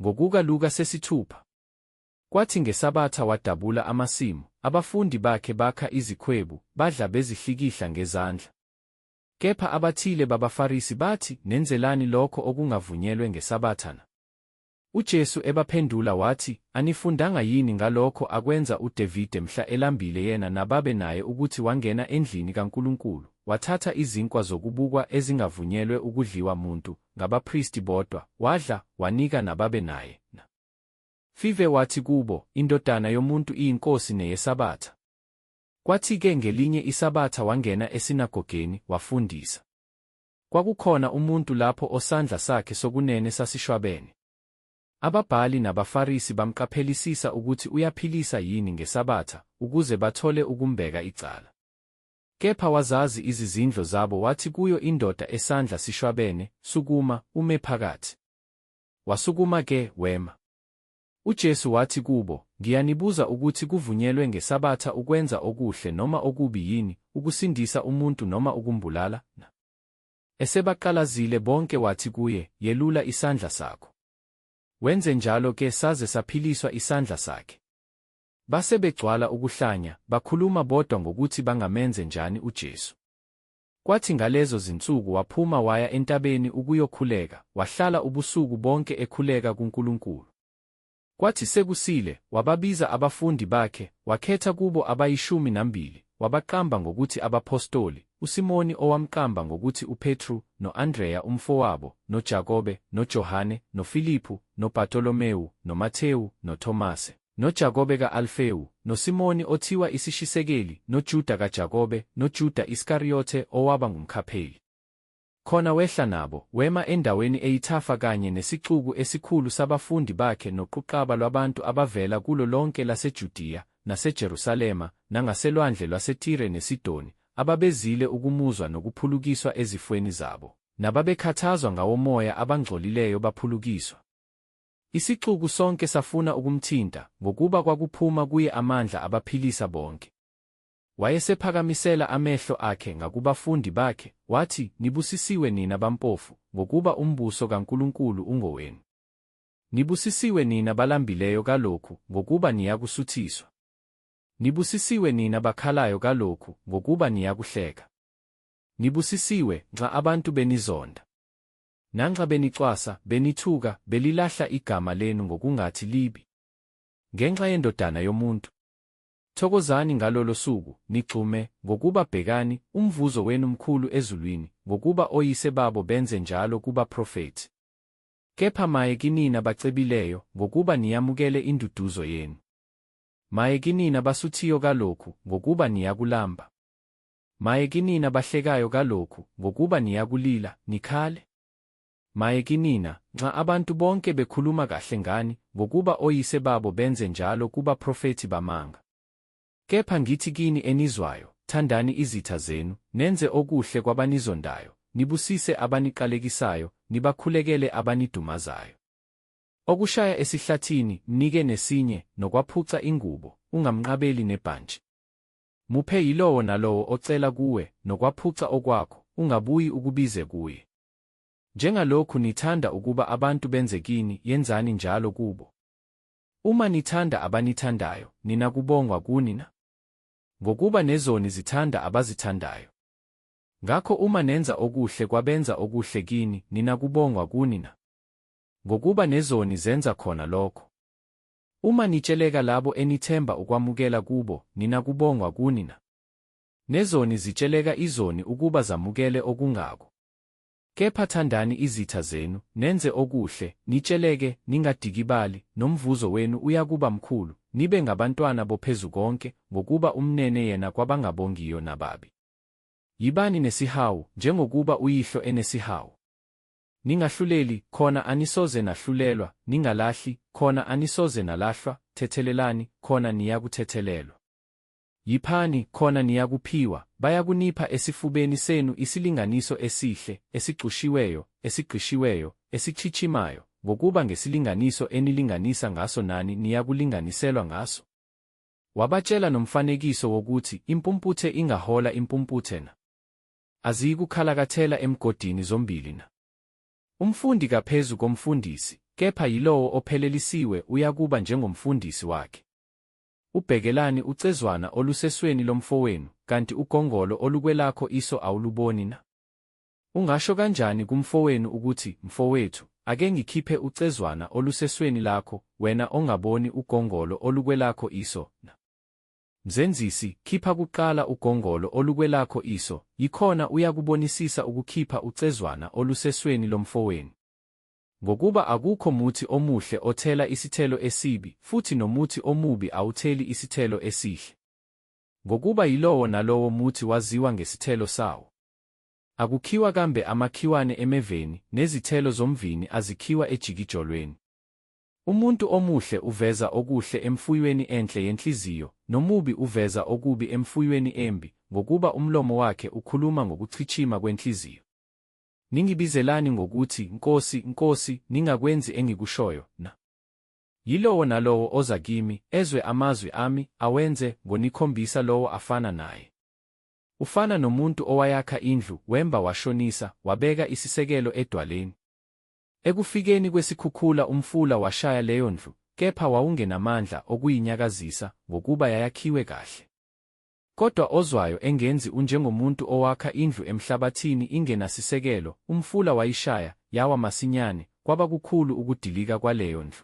Ngokuka Luka sesithupha. Kwathi ngesabatha wadabula amasimu, abafundi bakhe bakha izikhwebu, badla bezihlikihla ngezandla. Kepha abathile babaFarisi bathi, Nenzelani lokho okungavunyelwe ngesabatha na? UJesu ebaphendula wathi, Anifundanga yini ngalokho akwenza uDevide mhla elambile yena nababe naye ukuthi wangena endlini kaNkulunkulu, wathatha izinkwa zokubukwa ezingavunyelwe ukudliwa muntu, ngabapristi bodwa, wadla, wanika nababe naye, na? Five wathi kubo, Indodana yomuntu iyinkosi neyesabatha. Kwathi-ke ngelinye isabatha wangena esinagogeni, wafundisa. Kwakukhona umuntu lapho osandla sakhe sokunene sasishwabene. Ababhali nabaFarisi bamqaphelisisa ukuthi uyaphilisa yini ngeSabatha ukuze bathole ukumbeka icala. Kepha wazazi izizindlo zabo wathi kuyo indoda esandla sishwabene, Sukuma, ume phakathi. Wasukuma ke, wema. UJesu wathi kubo, Ngiyanibuza ukuthi kuvunyelwe ngeSabatha ukwenza okuhle noma okubi yini, ukusindisa umuntu noma ukumbulala? Na? Esebaqalazile bonke wathi kuye, Yelula isandla sakho. Wenze njalo ke saze saphiliswa isandla sakhe. Base begcwala ukuhlanya, bakhuluma bodwa ngokuthi bangamenze njani uJesu. Kwathi ngalezo zinsuku waphuma waya entabeni ukuyokhuleka, wahlala ubusuku bonke ekhuleka kuNkulunkulu. Kwathi sekusile, wababiza abafundi bakhe, wakhetha kubo abayishumi nambili, wabaqamba ngokuthi abaphostoli, uSimoni owamqamba ngokuthi uPetru, no-Andreya umfowabo, noJakobe, noJohane, noFiliphu, noBartolomewu, noMathewu, noThomase. noJakobe ka-Alfewu, noSimoni othiwa isishisekeli, noJuda kaJakobe, noJuda Iskariyothe owaba ngumkhapheli. Khona wehla nabo, wema endaweni eyithafa kanye nesixuku esikhulu sabafundi bakhe noquqaba lwabantu abavela kulo lonke laseJudiya, naseJerusalema, nangaselwandle lwaseTire neSidoni, ababezile ukumuzwa nokuphulukiswa ezifweni zabo, nababekhathazwa ngawomoya abangcolileyo baphulukiswa. Isixuku sonke safuna ukumthinta, ngokuba kwakuphuma kuye amandla abaphilisa bonke. Wayesephakamisela amehlo akhe ngakubafundi bakhe, wathi, Nibusisiwe nina bampofu, ngokuba umbuso kaNkulunkulu ungowenu. Nibusisiwe nina balambileyo kalokhu, ngokuba niyakusuthiswa. Nibusisiwe nina bakhalayo kalokhu, ngokuba niyakuhleka. Nibusisiwe, nxa abantu benizonda. Nanxa benicwasa, benithuka, belilahla igama lenu ngokungathi libi ngenxa yendodana yomuntu. Thokozani ngalolo suku, nigxume, ngokuba bhekani, umvuzo wenu mkhulu ezulwini, ngokuba oyise babo benze njalo kubaprofethi. Kepha maye kinina bacebileyo, ngokuba niyamukele induduzo yenu. Maye kinina basuthiyo kalokhu, ngokuba niyakulamba. Maye kinina bahlekayo kalokhu, ngokuba niyakulila, nikhale. Maye kinina, nxa abantu bonke bekhuluma kahle ngani, ngokuba oyise babo benze njalo kubaprofethi bamanga. Kepha ngithi kini enizwayo, thandani izitha zenu, nenze okuhle kwabanizondayo, nibusise abaniqalekisayo, nibakhulekele abanidumazayo. Okushaya esihlathini, mnike nesinye, nokwaphuca ingubo, ungamnqabeli nebhantshi. Muphe yilowo nalowo ocela kuwe, nokwaphuca okwakho, ungabuyi ukubize kuye. Njengalokhu nithanda ukuba abantu benze kini, yenzani njalo kubo. Uma nithanda abanithandayo, nina kubongwa kuni na? Ngokuba nezoni zithanda abazithandayo. Ngakho uma nenza okuhle kwabenza okuhle kini, nina kubongwa kuni na? Ngokuba nezoni zenza khona lokho. Uma nitsheleka labo enithemba ukwamukela kubo nina kubongwa kunina. Nezoni zitsheleka izoni ukuba zamukele okungako. Kepha thandani izitha zenu, nenze okuhle, nitsheleke, ningadikibali, nomvuzo wenu uyakuba mkhulu, nibe ngabantwana boPhezukonke, ngokuba umnene yena kwabangabongiyo nababi. Yibani nesihawu, njengokuba uYihlo enesihawu. Ningahluleli, khona anisoze nahlulelwa, ningalahli, khona anisoze nalahlwa, thethelelani, khona niyakuthethelelwa. Yiphani, khona niyakuphiwa, bayakunipha esifubeni senu isilinganiso esihle, esigxushiweyo, esigqishiweyo, esichichimayo, ngokuba ngesilinganiso enilinganisa ngaso nani niyakulinganiselwa ngaso. Wabatshela nomfanekiso wokuthi impumputhe ingahola impumputhe na? aziyikukhalakathela emgodini zombili na? Umfundi kaphezu komfundisi, kepha yilowo ophelelisiwe uyakuba njengomfundisi wakhe. Ubhekelani ucezwana olusesweni lomfowenu, kanti ugongolo olukwelakho iso awuluboni na? Ungasho kanjani kumfowenu ukuthi, Mfowethu, ake ngikhiphe ucezwana olusesweni lakho, wena ongaboni ugongolo olukwelakho iso na? Mzenzisi, khipha kuqala ugongolo olukwelakho iso, yikhona uyakubonisisa ukukhipha ucezwana olusesweni lomfowenu. Ngokuba akukho muthi omuhle othela isithelo esibi, futhi nomuthi omubi awutheli isithelo esihle. Ngokuba yilowo nalowo muthi waziwa ngesithelo sawo. Akukhiwa kambe amakhiwane emeveni, nezithelo zomvini azikhiwa ejikijolweni. Umuntu omuhle uveza okuhle emfuyweni enhle yenhliziyo, nomubi uveza okubi emfuyweni embi, ngokuba umlomo wakhe ukhuluma ngokuchitshima kwenhliziyo. Ningibizelani ngokuthi, Nkosi, Nkosi, ningakwenzi engikushoyo na? Yilowo nalowo oza kimi, ezwe amazwi ami, awenze, ngonikhombisa lowo afana naye. Ufana nomuntu owayakha indlu, wemba washonisa, wabeka isisekelo edwaleni. Ekufikeni kwesikhukhula umfula washaya leyo ndlu, kepha wawungenamandla okuyinyakazisa ngokuba yayakhiwe kahle. Kodwa ozwayo engenzi unjengomuntu owakha indlu emhlabathini ingenasisekelo, umfula wayishaya, yawa masinyane, kwaba kukhulu ukudilika kwaleyo ndlu.